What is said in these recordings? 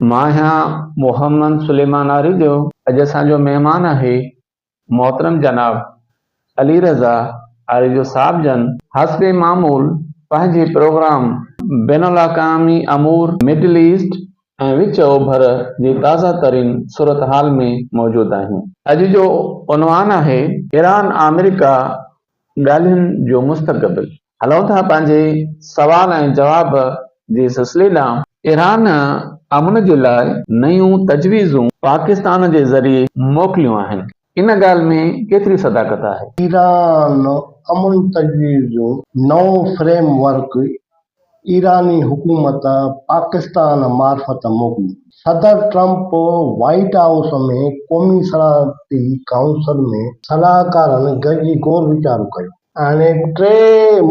مان آهيان محمد سليمان آريجو، اڄ اسان جو مهمان آهي محترم جناب علي رضا آريجو صاحب جن حسب معمول پنهنجي پروگرام بين الاقامي امور، مڊل ايسٽ ۽ وچ اوڀر جي تازه ترين صورتحال ۾ موجود آهيون. اڄ جو عنوان آهي ايران آمريڪا ڳالهين جو مستقبل. هلون ٿا پنهنجي سوال ۽ جواب جي سلسلي ڏانهن. ايران امن جي لاء نيون تجويزون پاڪستان جي ذريعي موڪليون آهن، ان ڳالهه ۾ ڪيتري صداقت آهي؟ ايران امن تجويزون نئون فريم ورڪ ايراني حڪومت پاڪستان معرفت موڪليون، صدر ٽرمپ وائيٽ هائوس ۾ قومي سلامتي ڪائونسل ۾ صلاحڪارن گڏجي غور ويچارو ڪيو. هاڻي ٽي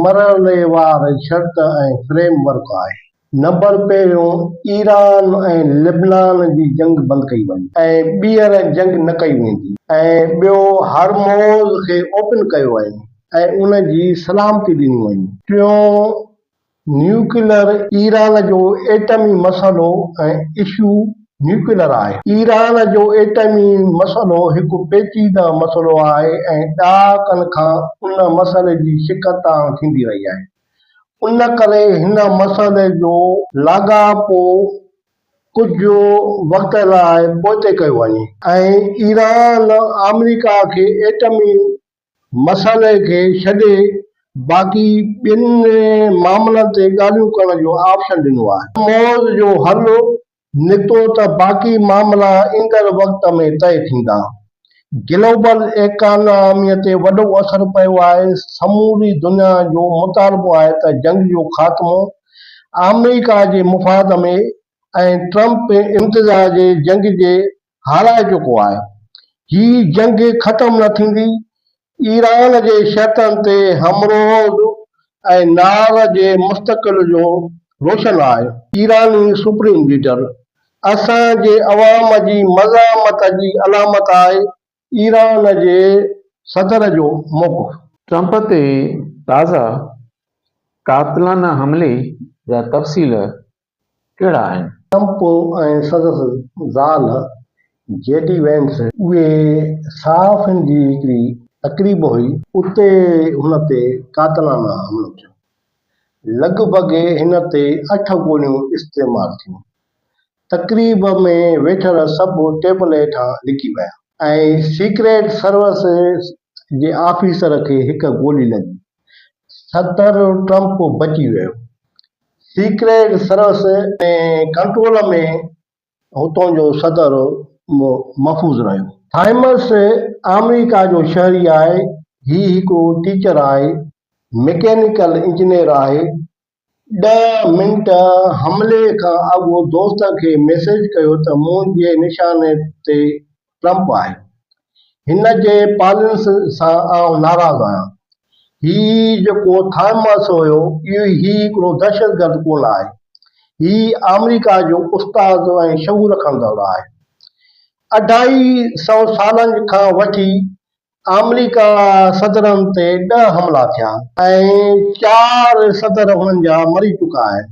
مرحليوار شرط ۽ فريم ورڪ آهي. نمبر پهريون ايران ۽ لبنان جي جنگ بند ڪئي وڃي ۽ ٻيهر جنگ نه ڪئي ويندي ۽ ٻيو هرموز کي اوپن ڪيو وڃي ۽ ان جي سلامتي ڏني وڃي. ٽيون نيوڪليئر، ايران جو ايٽمي مسئلو ۽ اشو نيوڪليئر آهي. ايران جو ايٽمي مسئلو هڪ پيچيده مسئلو آهي ۽ ڏهاڪن کان ان مسئلي جي شڪست آڻ ٿيندي رهي آهي. ان ڪري هن مسئلي جو لاڳاپو ڪجهه وقت لاء پوئتي ڪيو وڃي ۽ ايران آمريڪا کي ايٽمي مسئلي کي ڇڏي باقي ٻين معاملن تي ڳالهيون ڪرڻ جو آپشن ڏنو آهي. موضوع جو حل نڪتو ته باقي معاملا ايندڙ وقت ۾ طئي ٿيندا. گلوبل ايڪاناميء تي وڏو اثر پيو آهي، سموري دنيا جو مطالبو آهي ته جنگ جو خاتمو آمريڪا جي مفاد ۾ ۽ ٽرمپ انتظار جي جنگ جي هارائي چڪو آهي. هي جنگ ختم نه ٿيندي. ايران جي شرطن تي همروز ۽ نار جي مستقل جو روشن آهي. ايراني سپريم ليڊر اسان جي عوام جي مزاحمت جي علامت آهي ايران جي صدر جو موقف. ٽرمپ تي تازا قاتلانه حملي جا تفصيل ڪهڙا آهن؟ ٽرمپ ۽ سندس زال جي ڊي وينس. اهي صحافين جي هڪڙي تقريب هئي. اتي هن تي قاتلانه حملو ٿيو. لڳ ڀڳ هن تي اٺ گوليون استعمال ٿيون. تقريب ۾ ويٺل سڀ ٽيبل هيٺان لڪي ويا. ۽ سيڪريٽ سروس جي آفيسر کي هڪ گولي لڳي. صدر ٽرمپ بچي ويو. سيڪريٽ سروس جي ڪنٽرول ۾ هتون جو صدر محفوظ رهيو. ٿائمس آمريڪا جو شهري آهي. هي هڪڙو ٽيچر آهي، مڪينيڪل انجنيئر آهي، ڏهه منٽ حملي کان اڳ دوست کي ميسيج ڪيو ته منهنجي نشاني تي ٽرمپ آهي. هن جي پالينس سان آئون ناراض آهيان. هي جيڪو ٿامس هيو هي هڪڙو دهشتگرد ڪونه آهي. هي آمريڪا جو استاد ۽ شعور رکندڙ آهي. اڍائي سئو سالن کان وٺي آمريڪا صدرن تي ڏهه حملا ٿيا ۽ چار صدر انهن جا مري چڪا آهن.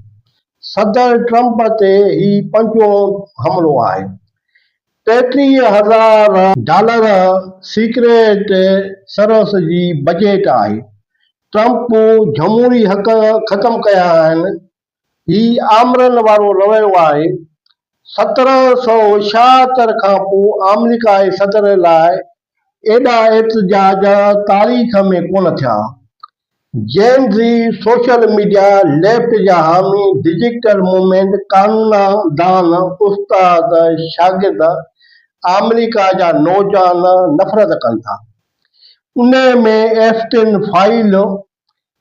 صدر ٽرمپ تي هي پنجون حملو آهي. ٽيٽيهه هزار ڊالر سيڪريٽ سروس جي بجيٽ آهي. ٽرمپ جمهوري حق ختم ڪيا آهن هي آمرن وارو رويو آهي. سترهن سؤ ڇاهتر کان پوء آمريڪائي صدر لاء ايڏا احتجاج تاريخ ۾ ڪونه ٿيا. Gen Z, social media, left جا حامي، ڊجيٽل موومينٽ، قانونا دان، استاد، شاگرد آمريڪا جا نوجوان نفرت ڪن ٿا. انهيء ۾ ايفٽن فائل،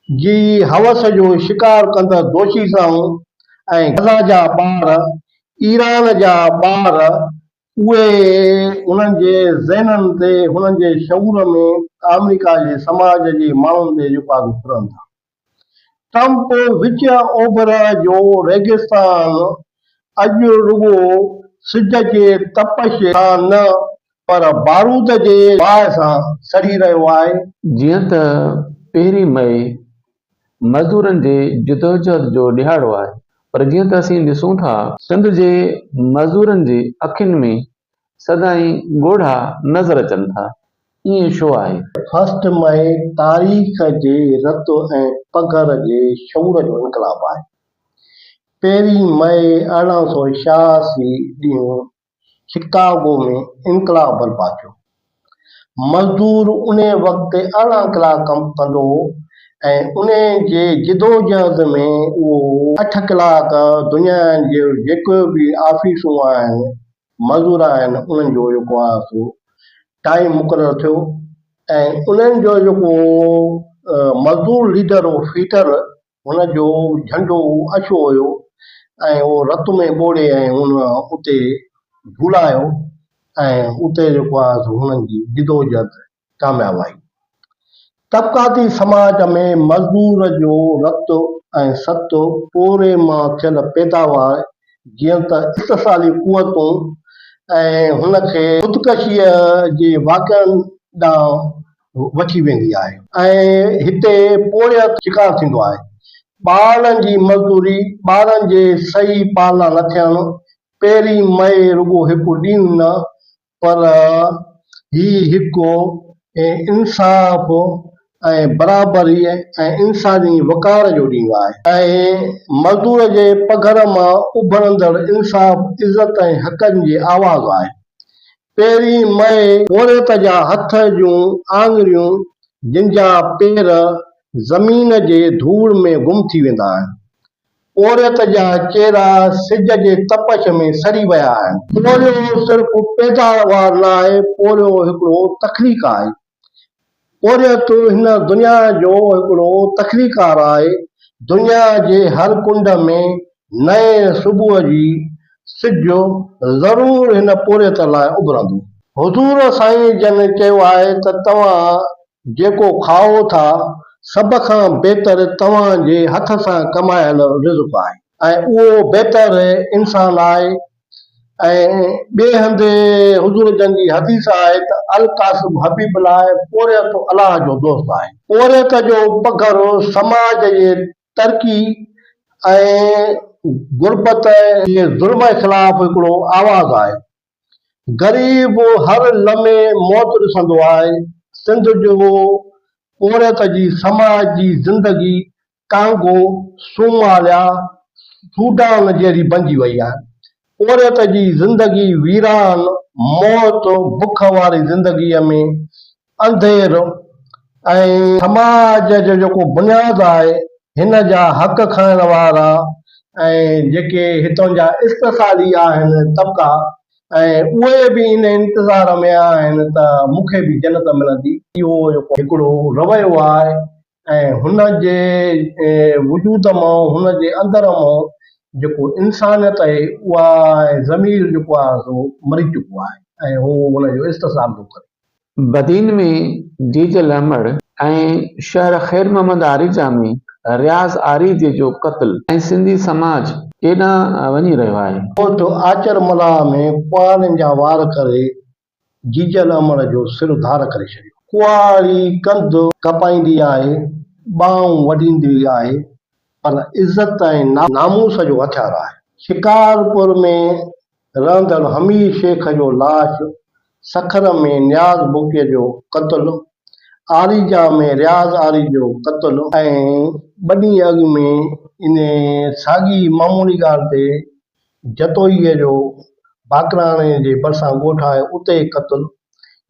جي هوس جو شڪار ڪندڙ دوشي سائون ۽ غزه جا ٻار، ايران جا ٻار، اهي انهن جي ذهنن تي، هنن جي شعور ۾ آمريڪا جي سماج جي ماڻهن تي اهو پاڳو ڦرن ٿا. ٽرمپ وچ اوڀر جو ريگستان اڄ رڳو سج جي تپش سان نه پر بارود جي باهه سان سڙي رهيو آهي. جيئن ته پهرين مئي مزدورن جي جدوجهد جو ڏهاڙو آهي پر جيئن ته اسين ڏسون ٿا. سنڌ جي مزدورن جي اکين ۾ سدائين ڳوڙها نظر اچن ٿا ائين ڇو آهي؟ فرسٽ مئي تاريخ جي رت ۽ پگهر جي شعور جو انقلاب آهي. پهرين مئي ارڙهن سؤ ڇهاسي ڏينهن شڪاگو ۾ انقلاب برپا ٿيو. مزدور انهيء وقت ارڙهن ڪلاڪ ڪم ڪندو هو ۽ انهيء جي جدوجهد ۾ اهو اٺ ڪلاڪ دنيا جي جيڪي به آفيسون آهن، مزور آهن، انهن جو جيڪو آهي سو ٽائيم مقرر ٿيو ۽ انهن جو جيڪو مزدور ليڊر هو فيٽر، هن جو جهنڊو اڇو هيو ۽ اهو رت ۾ ٻوڙي ۽ هن اتي جهولايو ۽ اتي جيڪو آهي سو هنن جي جدوجهد ڪامياب آئي. طبقاتي سماج ۾ مزدور جو رت ۽ ست پوري مان ٿيل پيداوار جيئن ته استحصالي قوتون ۽ هن کي خودڪشيء جي واقعن ڏانهن وٺي ويندي آهي ۽ هتي پورهيت شڪار ٿيندو آهي. ٻارڙن جي مزدوري، ٻارن جي صحيح پالنا نه ٿيڻ، پهرين مئي رڳو هڪ ڏينهن نه پر هي هڪ انصاف ۽ برابري ۽ انساني وقار جو ڏينهن آهي ۽ مزدور جي پگهر مان اڀرندڙ انصاف، عزت ۽ حقن جي آواز آهي. پهرين مئي پورهيت جا هٿ جون آڱريون جن جا پير زمين جي ڌوڙ ۾ گم ٿي ويندا آهن. پورهيت جا چهرا سج جي تپش ۾ سڙي ويا آهن. پورهيو صرف پيداوار نه آهي، پورهيو هڪڙو تخليق آهي. پورهيت هن دنيا جو هڪڙو تخليقڪار آهي، دنيا جي هر ڪنڊ ۾ نئين صبح جي سج ضرور هن پورهيت لاء اڀرندو. حضور سائين جن چيو آهي ته توهان جيڪو کائو ٿا، سڀ کان بهتر توهان جي هٿ سان ڪمايل رزق آهي ۽ اهو بهتر انسان آهي ۽ ٻئي هنڌ حضور جن جي حديث آهي ته القاسم حبيب الله ۽ پورهيت الله جو دوست آهي. پورهيت جو پگهر سماج جي ترقي ۽ غربت جي ظلم خلاف هڪڙو آواز آهي. غريب هر لمحي موت ڏسندو آهي. سنڌ جو پورهيت جي سماج جي زندگي ڪانگو، صوماليا، سوڊان جهڙي بنجي وئي آهي. پورهيت جي زندگي ويران، موت، بک واري زندگيء ۾ انڌير ۽ سماج جو جيڪو بنياد آهي هن جا حق کائڻ وارا ۽ جيڪي هتان جا استحصالي آهن طبقا ۽ اهي به ان انتظار ۾ آهن ته مون کي به جنت ملندي. اهو جيڪو هڪڙو رويو آهي ۽ هن جي وجود مان هن جي اندر مان جيڪو انسانيت آهي اها ۽ ضمير جيڪو آهي سو مري چڪو آهي ۽ هو ان جو استصحاب ٿو ڪري. بدين ۾ جيجل احمد ۽ شهر خير محمد آريجا ۾ رياض آريجي جو قتل ۽ سنڌي سماج ڪيڏانهن وڃي رهيو آهي. ڳوٺ آچر ملاح ۾ ڪهاڙين جا وار ڪري جيجن امڙ جو سر ڌار ڪري ڇڏيو. ڪهاڙي ڪنڌ ڪپائيندي آهي، ٻانهون وڍيندي آهي پر عزت ۽ ناموس جو هٿيار آهي. شڪارپور ۾ رهندڙ حميد شيخ جو لاش، سکر ۾ نياز بگٽي جو قتل، آريجا ۾ رياض آري جو قتل ۽ ٻه ڏينهن اڳ ۾ انهيء ساڳي معمولي ڳالهه تي جتوئيء جو باقراڻي جي ڀرسان ڳوٺ آهي، اتي قتل.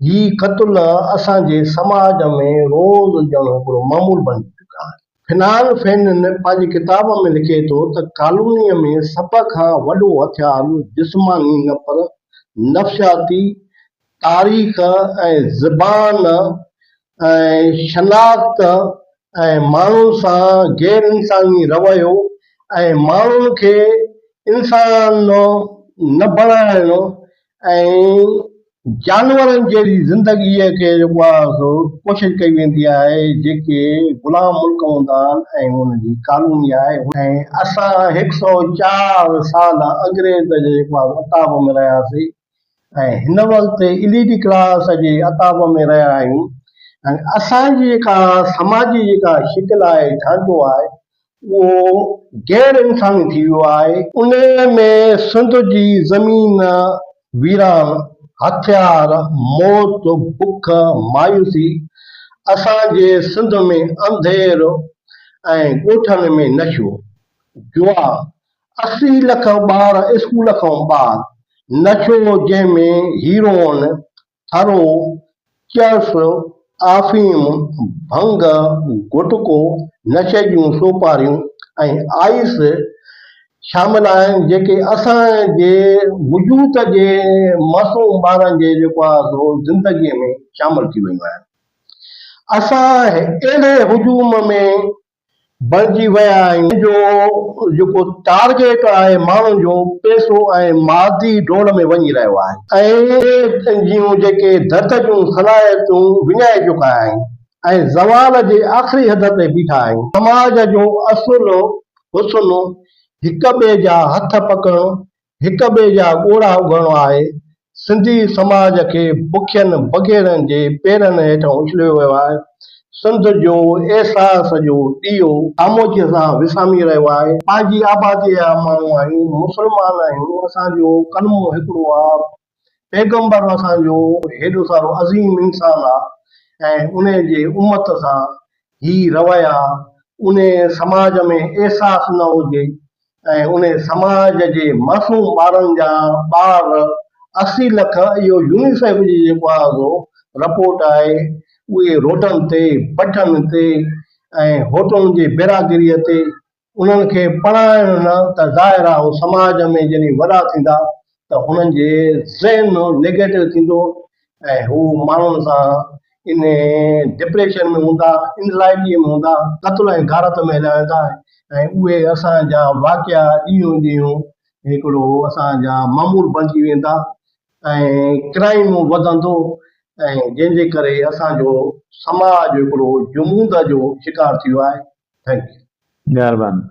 هي قتل اسان جي سماج ۾ روز ڄڻ هڪڙو معمول بڻجي چڪا آهن. فنان فينن پنهنجي ڪتاب ۾ لکي ٿو ته ڪالونيء ۾ سڀ کان وڏو هٿيار جسماني نه پر نفسياتي، تاريخ ۽ زبان ۽ شناخت ۽ ماڻهن سان غير انساني رويو ۽ ماڻهن کي انسان نه بڻائڻ ۽ جانورن جهڙي زندگي کي جيڪو آهي سو ڪوشش ڪئي ويندي آهي جيڪي غلام ملڪ هوندا آهن ۽ ان جي ڪالوني آهي ۽ اسان هڪ سئو چار سال انگريز جي جيڪو آهي عتاب ۾ رهياسين ۽ هن وقت ايل اي ڊي ڪلاس جي عتاب ۾ رهيا آهيون ۽ اسان جي جيڪا سماجي جيڪا شڪل آهي ڍانچو آهي اهو غير انساني ٿي ويو آهي. انهي ۾ سنڌ جي زمين ويران، هٿيار، موت، بک، مايوسي، اسان جي سنڌ ۾ انڌير ۽ ڳوٺن ۾ نشو، جوا، اسي لک ٻار اسڪول کان ٻاهر نشو جنهن ۾ هيروئن، ٿرو، چرس، آفيم، ڀنگ، گٽڪو، نشي جون سوپاريون ۽ آئس شامل آهن جيڪي اسان جي وجود جي معصوم ٻارن جي جيڪو آهي سو زندگي ۾ شامل ٿي ويون آهن. اسان اهڙي هجوم ۾ بڻجي ويا آهيون. انهن جو جيڪو ٽارگيٽ آهي ماڻهن جو پئسو ۽ مادي ڊوڙ ۾ وڃي رهيو آهي ۽ جون جيڪي درد جون صلاحيتون وڃائي چڪا آهن ۽ زوال جي آخري حد تي بيٺا آهيون. سماج جو اصل حسن هڪ ٻئي جا هٿ پڪڙڻ هڪ ٻئي جا ڳوڙها اگهڻو آهي، سنڌي سماج کي بکين بگهڙن جي پيرن هيٺ اڇليو ويو آهي، سنڌ جو احساس جو ڏيئو خاموشيء سان وسامي رهيو آهي. پنهنجي آباديء جا ماڻهو آهيون، مسلمان آهيون، اسان جو ڪلمو هڪڙو آهي، پيغمبر اسان جو هيڏو سارو عظيم انسان آ ۽ انهي جي امت سان هي رويا انهي سماج ۾ احساس نه هجي ۽ انهي سماج جي معصوم ٻارن جا ٻار اسي لک اهو يونيسيف جي جيڪو آزو رپورٽ آهي اهي روڊن تي بٺن تي ۽ هوٽلن جي بيراگريء تي انهن کي پڙهائڻ نه ته ظاهر آ هو سماج ۾ جڏهن وڏا ٿيندا ته هنن جي ذهن نيگيٽو ٿيندو ۽ هو ماڻهن سان ان ڊپريشن ۾ هوندا انزائٽي ۾ هوندا قتل ۽ غارت ۾ هليا ويندا ۽ اهي اسان جا واقعا ڏينهون ڏينهون هڪڙو اسان جا معمول بڻجي ويندا ۽ ڪرائيم وڌندو ۽ جنهن جي ڪري اسان جو سماج هڪڙو جمود جو شڪار ٿي ويو آهي ٿينڪ يو. مهرباني